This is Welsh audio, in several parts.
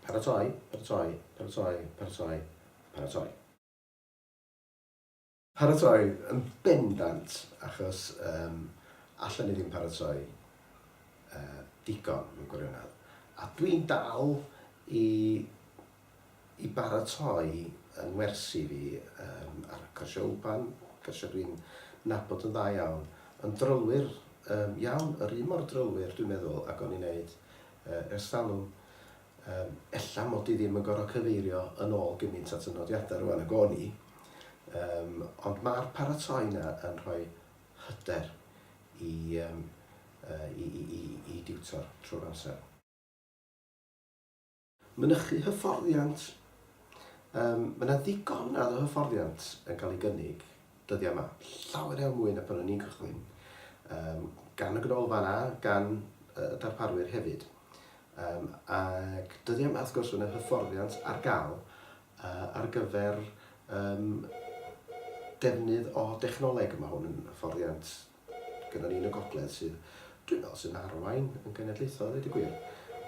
Paratoi, paratoi, paratoi, paratoi, paratoi. Paratoi yn bendant, achos yym allen ni ddim paratoi yy digon mewn gwirionedd. A dwi'n dal i i baratoi yng ngwersi fi yym ar cyrsiau wpan, cyrsiau dwi'n nabod yn dda iawn, yn drylwyr yym iawn, yr un mor drylwyr dwi'n meddwl ag o'n i'n neud yy ers talwm. Yym ella mod i ddim yn gorfod cyfeirio yn ôl gymaint at y nodiadau rŵan ag o'n i, yym ond ma'r paratoi 'na yn rhoi hyder i yym yy i i i i diwtor trwy'r amser. Mynychu hyfforddiant, Yym, mae yna ddigonedd o hyfforddiant yn cael ei gynnig dyddiau yma, llawer iawn mwy na pan o'n i'n cychwyn, Yym, gan y Ganolfan a gan y darparwyr hefyd. Yym, ac dyddiau yma wrth gwrs mae yna hyfforddiant ar gael ar gyfer yym defnydd o dechnoleg, mae hwn yn hyfforddiant gyda ni yn y gogledd sydd, dwi'n meddwl, sy'n arwain yn genedlaethol, dweud y gwir.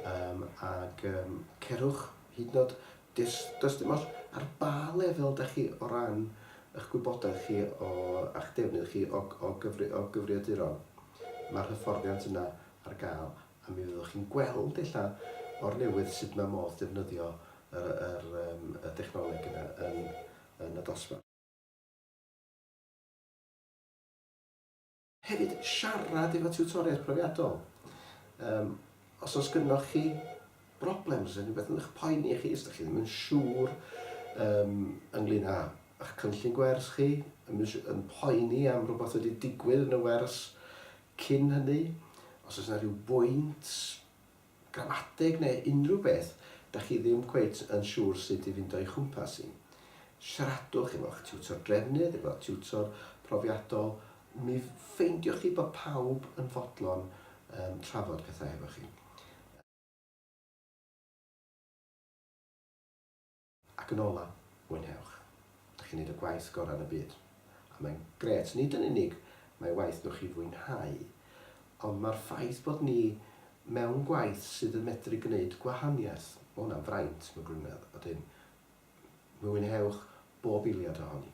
Um, ac um, cerwch hyd yn oed, does, does dim oll ar ba lefel da chi o ran eich gwybodaeth chi o, a'ch defnydd chi o, o, gyfri, o gyfriaduron. Mae'r hyfforddiant yna ar gael, a mi fyddwch chi'n gweld eich o'r newydd sut mae modd defnyddio yr, yr, um, y dechnoleg yna yn, yn y dosbarth. Hefyd, siarad efo tiwtoriaid profiadol. Yym, os oes gynnoch chi broblem, os oes rhywbeth yn eich poeni chi, os ydych chi ddim yn siŵr um, ynglyn â eich cynllun gwers chi, yn, yn poeni am rhywbeth wedi digwydd yn y wers cyn hynny, os oes yna rhyw bwynt gan adeg neu unrhyw beth dach chi ddim cweit yn siŵr sut i fynd o'i chwmpas hi. Siaradwch efo'ch tiwtor drefnydd, efo'ch tiwtor profiadol, mi ffeindioch chi bod pawb yn fodlon um, trafod pethau hefo chi. Ac yn ola, mwynhewch. Dych chi'n neud y gwaith gora yn y byd. A mae'n grêt, nid yn unig mae waith dwch i fwynhau, ond mae'r ffaith bod ni mewn gwaith sydd yn medru gneud gwahaniaeth, ma hwnna'n fraint, ma Gwynedd, odyn mwynhewch bob eiliad ohoni.